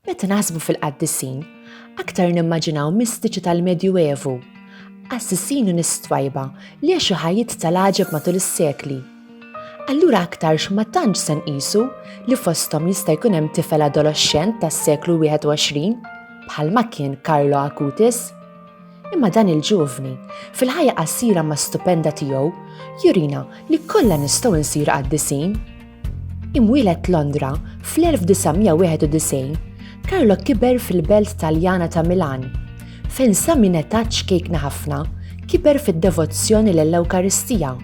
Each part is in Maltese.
Meta naħsbu fil-qaddisin, aktar nimmaġinaw mistiċi tal-Medju Evu, qassisin u nies twajba li għexu ħajjiet tal-għaġeb matul is-sekli. Allura aktarx ma tantx se nqisu li fosthom jista' jkun hemm tifel adoloxxent tas-seklu 21, bħalma kien Carlo Acutis. Imma dan il-ġuvni, fil-ħajja qasira ma stupenda tiegħu, jurina li kollha nistgħu nsir qaddisin. Imwieled Londra fl-1991, Carlo kiber fil-belt Taljana ta' Milan, fejn sa minn età ċkejkna ħafna kiber fid-devozzjoni lill-Ewkaristija.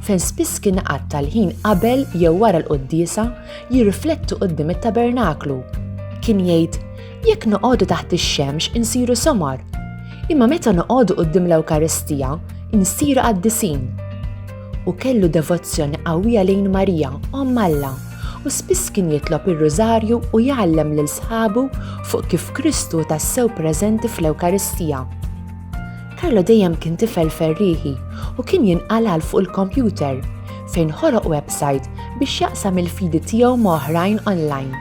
fejn spiss kien iqatta' l-ħin qabel jew wara l-quddiesa jirrifletti quddiem it-tabernaklu. Kien jgħid, Jekk noqogħdu taħt ix-xemx insiru somar, imma meta noqogħdu quddiem l-Ewkaristija insiru qaddisin. U kellu devozzjoni qawwija lejn Marija, Omm Alla, u spiss kien jitlob ir-Rużarju u jgħallem lil sħabu fuq kif Kristu tassew preżenti fl-Ewkaristija. Carlo dejjem kien tifel ferrieħi u kien jinqalal fuq il-kompjuter fejn ħoloq website biex jaqsam il-fidi tiegħu ma' oħrajn online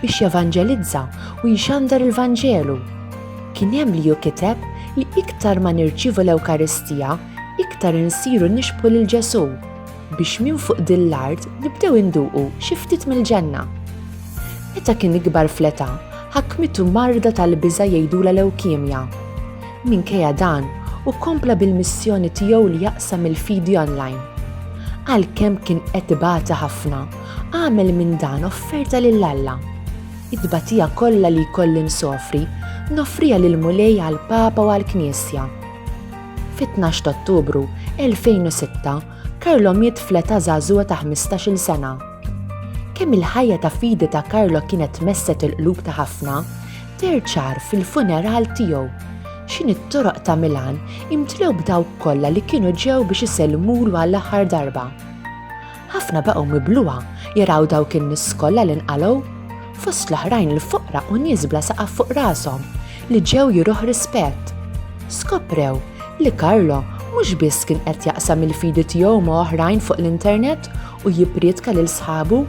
biex jevanġelizza u jxandar il-Vanġelu. Kien hemm li hu kiteb li iktar ma nirċievu l-Ewkaristija, iktar insiru nixbħu lil Ġesù biex minn fuq din l-art nibdew induqu xi ftit mill-ġenna. Meta kien ikbar fl-età, ħakmitu marda tal-biża' jgħidula lewkemja Minkejja dan, hu kompla bil-missjoni tiegħu li jaqsam il-fidi online. Għalkemm kien qed ibati ħafna, għamel minn dan offerta lil Alla. It-tbatija kollha li jkolli nsofri, nofriha lil Mulej għall-Papa u għall-Knisja. Fit-12 Ottubru 2006, Karlo miet fl-età żagħżugħa ta' 15-il sena. Kemm il-ħajja ta' fidi ta' Karlo kienet messet il-qlub ta' ħafna, Terċar fil-funeral tiegħu. X'inhi t-toroq ta' Milan imtlew b'dawk kollha li kienu ġew biex isellmulu għall-aħħar darba. Ħafna baqgħu mibluha jaraw dawk in-nies kollha li nqalgħu, fost l-oħrajn il-foqra u nies bla saqaf fuq rashom li ġew juruh rispett. Skoprew li Karlo mhux biss kien qed jaqsam il-fidi tiegħu ma' oħrajn fuq l-internet u jipprietka lil sħabu,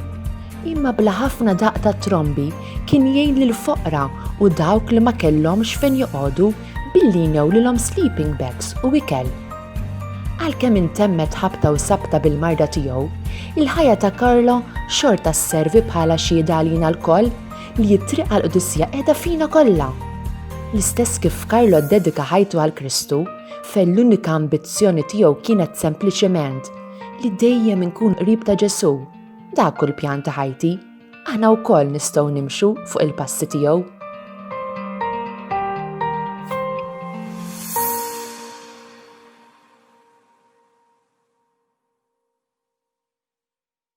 imma bla ħafna daqq ta' trombi Kien jgħin lil foqra u dawk li ma kellhomx fejn joqogħdu billi jnew lilhom sleeping bags u ikel. Għalkemm intemmet ħabta u sabta bil-marda tiegħu, il-ħajja ta' Carlo xorta sservi bħala xhieda għalina lkoll li t-triq għal qdusija qiegħda fina kollha. L-istess kif Carlo ddedika ħajtu għal Kristu, fejn l-unika ambizzjoni tiegħu kienet sempliċement li dejjem inkun qrib ta' Ġesù. Dak hu l-pjan ta' ħajti. Aħna wkoll nistgħu nimxu fuq il-passi tiegħu.